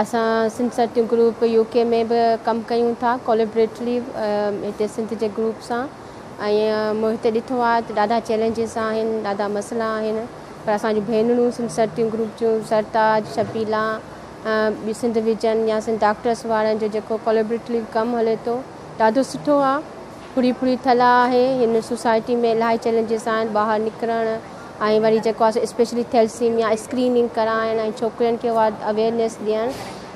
اسان سنڌ سرٽيو group UK ڪي ۾ به ڪم ڪيون ٿا ڪوليبريٽلي هتي سنڌ جي گروپ سان ۽ مون هتي ڏٺو آهي ته ڏاڍا چئلينجز آهن ڏاڍا مسئلا آهن پر اسان جون ڀينرون سنڌ سرٽيون گروپ جون سرتاج شبيلا ٻي سنڌ ويجن يا سنڌ ڊاڪٽرس وارن جو جيڪو ڪوليبريٽلي ڪم هلي ٿو ڏاڍو سٺو آهي پھرين پھرين ٿلھا آھي ھن سوسائٽي ۾ الاھي چئلينجز آھن ٻاھر نڪرڻ ۽ وري جيڪو آھي سو اسپيشلي ٿيلسيميا اسڪريننگ ڪرائڻ ۽ ڇوڪرين کي اھا اويئرنيس ڏيڻ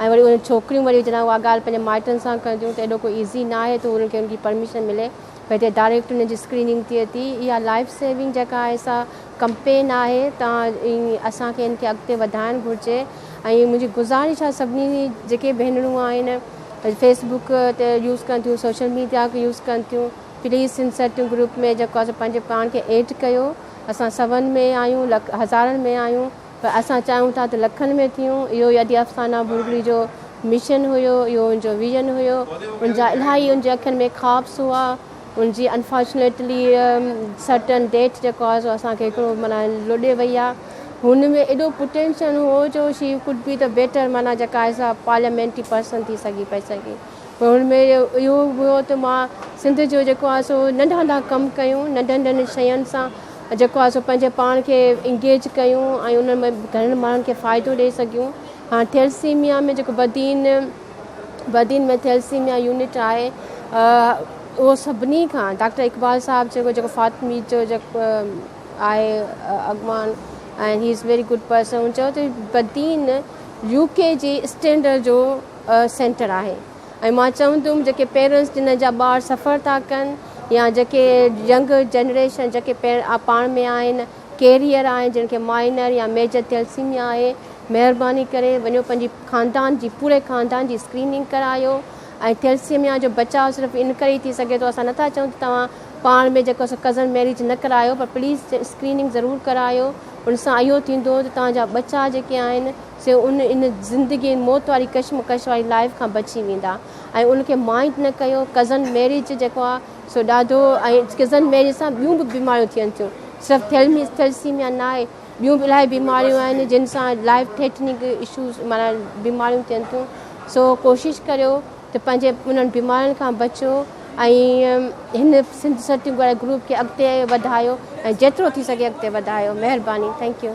۽ وري اھي ڇوڪريون وري جڏھن اھا ڳالھ پنھنجي مائٽن سان ڪنديون ته ايڏو ڪو ايزي نھ آھي ته انھن کي ان جي پرميشن ملي پر ھتي ڊائريڪٽ انھن جي اسڪريننگ ٿئي ٿي اھا لائف سيونگ جيڪا آھي سا ڪمپين آھي تان اسان کي ان کي اڳتي وڌائڻ گھرجي ۽ منهنجي گذارش آهي سڀني جي جيڪي ڀينرون آهن فيس بڪ تي يوز ڪن ٿيون سوشل ميڊيا کي يوز ڪن ٿيون پليز سنڌ سرتيون گروپ ۾ جيڪو آهي سو پنهنجي پاڻ کي ايڊ ڪيو اسان سون ۾ آهيون لک هزارن ۾ آهيون پر اسان چاهيون ٿا ته لکن ۾ ٿيون اهو ئي ادي افسانه ڀورڙي جو مشن هيو اهو ان جو ويزن هيو ان جا الاهي ان جي اکين ۾ خوابس هئا. ان جي انفارچونيٽلي سرٽن ڊيٽ جي ڪاز اسان کي هڪڙو معنيٰ لڏي وئي آ هن ۾ ايڏو پوٽينشل هو جو شي ڪوڊ بي ته بيٽر معنيٰ جيڪا ايز آ پارليامينٽري پرسن ٿي سگهي پئي سگهي پر هن ۾ اهو به هو ته مان سنڌ جو جيڪو آ سو ننڍا ننڍا ڪم ڪيون ننڍن ننڍن شين سان جيڪو آ سو پنهنجي پاڻ کي انگيج ڪيون ۽ ان ۾ گهڻن ماڻهن کي فائدو ڏئي سگهيون هاڻ ٿيلسيميا ۾ جيڪو بدين وڏين ۾ ٿيلسيميا يونٽ آهي اهو سڀني کان ڊاڪٽر اقبال صاحب چيو جيڪو فاطمي جو جيڪو آهي اڳواڻ ۽ he is very good person هن چيو ته بدين يو ڪي جي اسٽينڊر جو سينٽر آهي ۽ مان چوندم جيڪي پيرنٽس جن جا ٻار سفر ٿا ڪن يا جيڪي ينگ جنريشن جيڪي پاڻ ۾ آهن ڪيريئر آهن جن کي مائنر يا ميجر ٿيلسيميا آهي مهرباني ڪري وڃو پنهنجي خاندان جي پوري خاندان جي اسڪريننگ ڪرايو ۽ ٿيلسيميا جو بچاء صرف ان ڪري ئي ٿي سگهي ٿو اسان نٿا چئون ته توهان پاڻ ۾ جيڪو سو ڪزن ميريج نه ڪرايو پر پليز اسڪريننگ ضرور ڪرايو ان سان اهو ٿيندو ته توهان جا ٻچا جيڪي آهن سي ان ان زندگي ۽ موت واري ڪشمڪش واري لائف کان بچي ويندا ۽ ان کي مائنڊ نه ڪيو ڪزن ميريج جيڪو آهي سو ڏاڍو ۽ ڪزن ميري سان ٻيون به بيماريون ٿين ٿيون صرف ٿيلمي ٿيلسيميا نه آهي ٻيون به الاهي بيماريون آهن جن سان لائف ٿيٽنگ اشوز مانا بيماريون ٿين ٿيون سو ڪوشش ڪريو ته پنهنجي انهن بيمارين کان بچو ۽ هن سنڌ سرٽنگ واري گروپ کي اڳتي وڌايو ۽ جيترو ٿي سگهي اڳتي وڌايو مهرباني ٿينڪ يو